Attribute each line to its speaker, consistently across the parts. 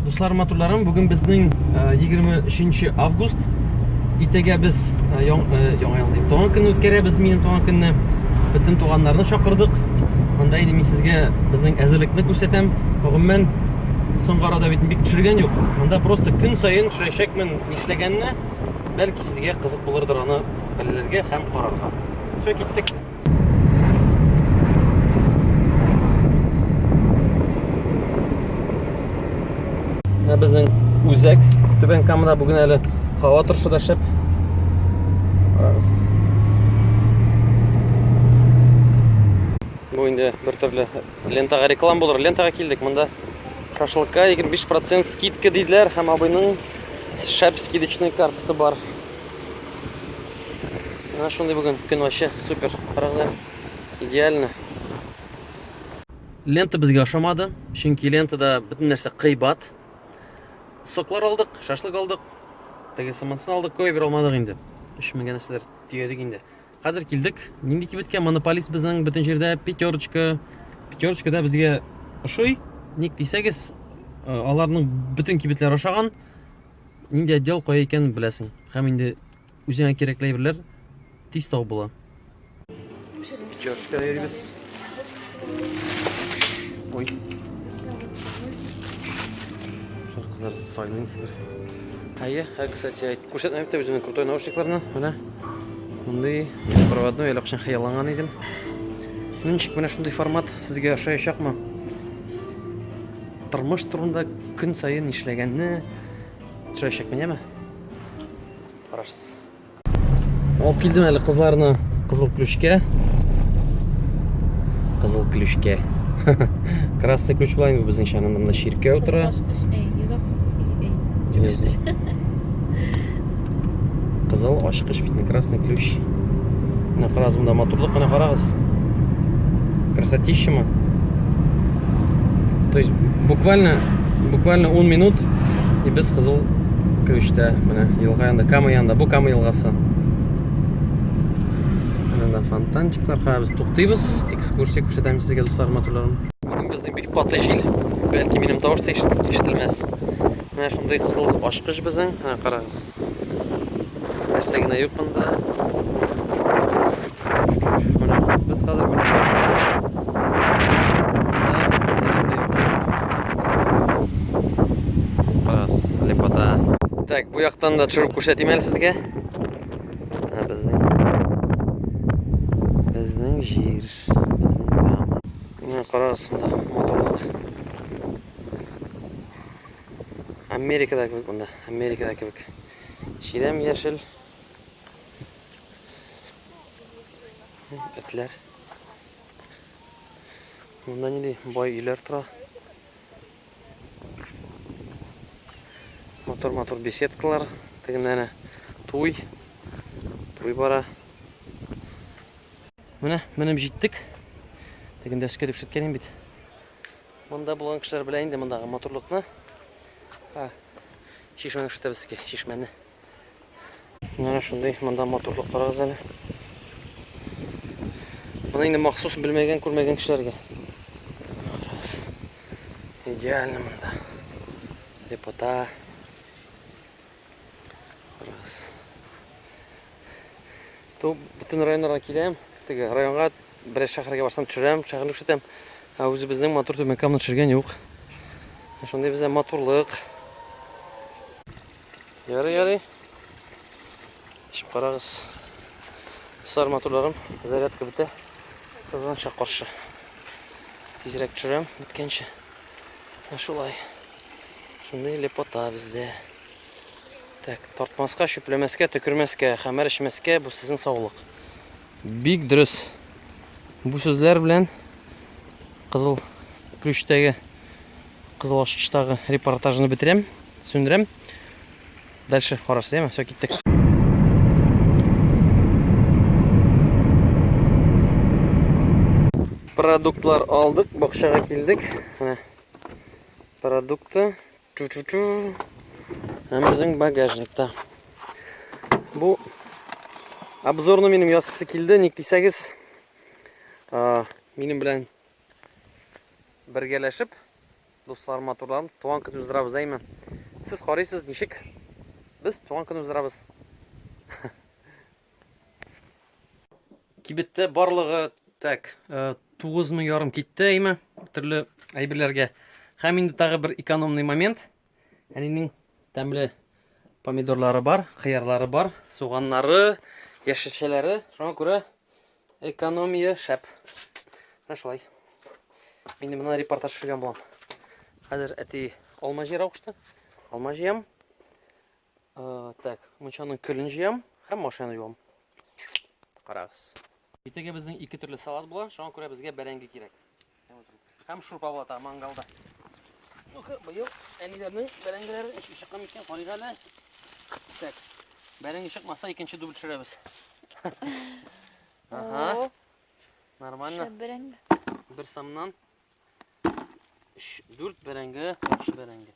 Speaker 1: Дуслар матурларым, бүген безнең 23 э, август. Иртәгә без э, э, яңа ел дип туган көнне үткәрәбез, минем туган көнне. Бөтен туганнарны чакырдык. Монда инде мин сезгә безнең әзерлекне күрсәтәм. Гомумән соңгы арада бит бик төшергән юк. Монда просто көн саен төшерәчәкмен нишләгәнне, бәлки сезгә кызык булырдыр аны белергә һәм карарга. Все, киттек. Менә безнең үзәк Түбән Камада бүген әле һава торышы да шәп. Карагыз. Бу инде бер төрле лентага реклам булыр. Лентага килдек. Монда шашлыкка 25% скидка диделәр һәм абыйның шәп скидочный картасы бар. Менә шундый бүген көн вообще супер. Карагызлар. Идеально. Лента безгә ошамады, чөнки лентада бөтен нәрсә кыйбат. Соклар алдык, шашлык алдык, теге самансын алдык, көй бер алмадык инде. 3000 генә сидер төядек инде. Хәзер килдек. Нинди кибеткә? Монополист безнең бөтен җирдә пятерочка. Пятерочка да безгә ошый. Ник дисәгез, э, аларның бөтен кибетләре ошаган. Нинди отдел кая икәнен беләсең. Һәм инде үзеңә кирәкле әйберләр тиз табып була. Чашка йөрибез. Ой. Кызлар сайлансыздар. Әйе, ә, кстати, әйт, күрсәтмә бит үзеңнең крутой наушникларны. Менә. Мондый проводной әле кышын хыялланган идем. Ничек менә шундый формат сезгә ошаячакмы? Тормыш турында көн саен нишләгәнне төшерәчәкмен, яме? Карашсыз. Алып килдем әле кызларны кызыл ключкә. Кызыл ключкә. Красный ключ була инде безнең чанын монда чиркәү тора. Кызыл ключ, эй, йозак, эй. Кызыл ашкыш бит, красный ключ. Менә карагыз, монда моторлык менә карагыз. Красотища То есть буквально буквально 10 минут и без кызыл ключтә менә елга янында, Кама янында. Бу Кама елгасы. Менә фонтанчиклар, карагыз, туктыйбыз, экскурсия күрсәтәм сезгә, дуслар, моторларым. Безнең бик каты җил. Бәлки минем тавыш та ишетелмәс. Менә шундый кызыл ачкыч безнең. Менә карагыз. Нәрсә генә юк монда. Без хәзер Карагыз, лепота. Так, бу яктан да төшереп күрсәтим әле сезгә. Безнең безнең җир, безнең кама. Менә карагыз, моторлык. Америкада кебек монда, Америкада кебек. Чирәм яшел. Этләр. Монда нинди бай өйләр тора. Матур-матур беседкалар. Тегендә әнә туй. Туй бара. Менә, менеп җиттек. Тегендә өскә дип сүткәнем бит. Монда булган кешеләр белә инде мондагы матурлыкны. Ха. Чишмәне күрсәтәбез сезгә, чишмәне. Менә шундый монда матурлык карагыз әле. Моны инде махсус белмәгән, күрмәгән кешеләргә. Идеально монда. Лепота. Раз. То бүтін районларга киләм, теге районга бір шәһәргә барсам төшерәм, шәһәрне күрсәтәм. Ә үзебезнең матур төбәккәмне төшергән юк. Шундый бездә матурлык. Ярый, ярый. Ишеп карагыз. Сар матурларым, зарядка бетә. Кызганча каршы. Тизрәк төшерәм, беткәнче. Шулай. Шундый лепота бездә. Так, тартмаска, чүпләмәскә, төкермәскә, хәмәр эчмәскә, бу сезнең саулык. Бик дөрес. Бу сүзләр белән кызыл ключтәге кызыл ачкычтагы репортажны бетерәм, сүндерәм. Дальше карарсыз, яме? Все, киттек. Продуктлар алдык, бакчага килдек. Менә Продукты. Ту -ту -ту. Һәм безнең багажникта. Бу обзорны минем ясысы килде, ник дисәгез, минем белән бергәләшеп дуслар матурларым туган көн уздырабыз әйме сез карыйсыз ничек без туган көн уздырабыз Кибеттә барлыгы так, 9 мы ярым китте әйме, төрле әйберләргә. Һәм инде тагы бер экономный момент. Әнинең тәмле помидорлары бар, хыярлары бар, суганнары, яшелчәләре. Шуңа күрә экономия шәп. Менә шулай. Мин менә репортаж төшергән булам. Хәзер әти алма җыйра кушты. Алма җыям. Aa, так, мунчаның көлен җыям һәм машинаны юам. Карагыз. Иртәгә безнең ике төрле салат була, шуңа күрә безгә бәрәңге кирәк. Һәм шурпа була та мангалда. Ну-ка, быел әниләрнең бәрәңгеләре ничек чыккан микән? Карыйк әле. Так. Бәрәңге чыкмаса, икенче дубль төшерәбез. Ага. Нормально. Шәп бәрәңге.
Speaker 2: Бер самнан
Speaker 1: 3 4 бәрәңге, 3 бәрәңге.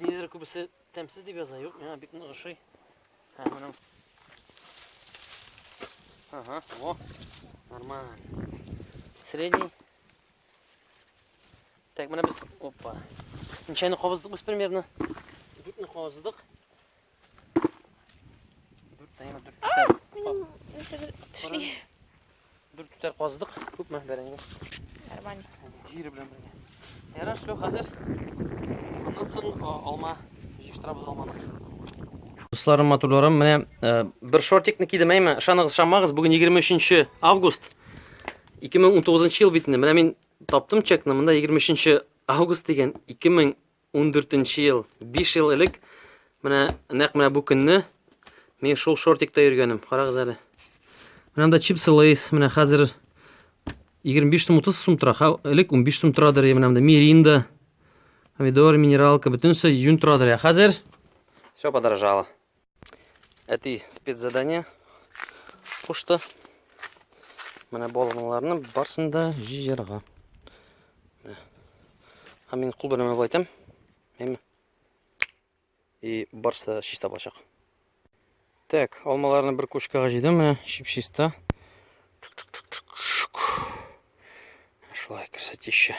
Speaker 1: Нидер күбесе тәмсез дип яза, юк, миңа бик нык ошый. Һә, моның. Ага, о, нормально. Средний. Так, менә без, опа. Ничәне кабыздык без примерно? Дүртне кабыздык. Дүрт түтәр казыдык. Күпме бәрәңге? Нормально.
Speaker 2: Җире белән
Speaker 1: бергә. Ярар, все, хәзер. Аннан соң алма җыштырабыз алманы. Дусларым, матурларым, менә э, бер шортикны кидем, әйме, ышаныгыз, ышанмагыз, бүген 23 август. 2019 ел бит инде. Менә мин таптым чекны, монда 23 август дигән 2000 14 нче ел, 5 ел элек, менә нәкъ менә бу көнне мин шул шортикта йөргәнем. Карагыз әле. Менә монда чипсы Лейс, менә хәзер 25 сум 30 сум тора. Элек 15 сум торадыр, менә монда Миринда, помидор, минералка, бөтенесе юн торадыр. Хәзер все подорожало. әти спецзадание кушты. Менә балаларны барсын да җыярга. Һәм мин кул белән байтам. Әйме. И барса чиста булачак. Так, алмаларны бер кушкага җыйдым менә, чип-чиста. Шулай красотища.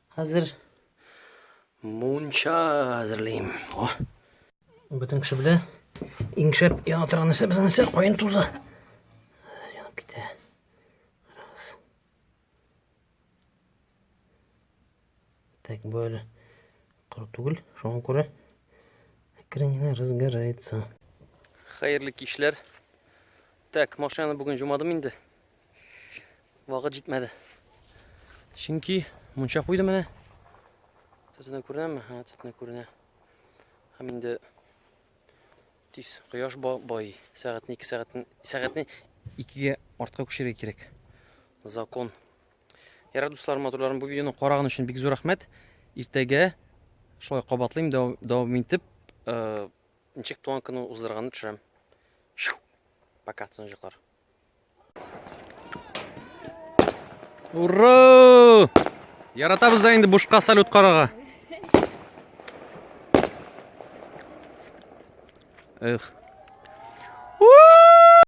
Speaker 1: Хәзер мунча әзерлим. О. Бөтен кеше белә. Иң шәп яна торган нәрсә безнең нәрсә каен тузы. Янып китә. Раз. Так, бу әле коры түгел. Шуңа күрә әкрен генә разгорается. Хәерле кичләр. Так, машинаны бүген җумадым инде. вакыт җитмәде. Чөнки мунча куйдым менә. Төтене күренәме? Ха, төтене күренә. Һәм инде тиз кояш бай, сәгатьне 2 сәгатьне сәгатьне 2-гә артка күчерергә кирәк. Закон. Ярар дуслар, матурларым, бу видеоны караган өчен бик зур рәхмәт. Иртәгә шулай кабатлыйм, дәвам итеп, э, ничек туган көнне уздырганны төшерәм. Пока, тынычлыклар. Ура! Яратабыз да инде бушка салют карага. Эх.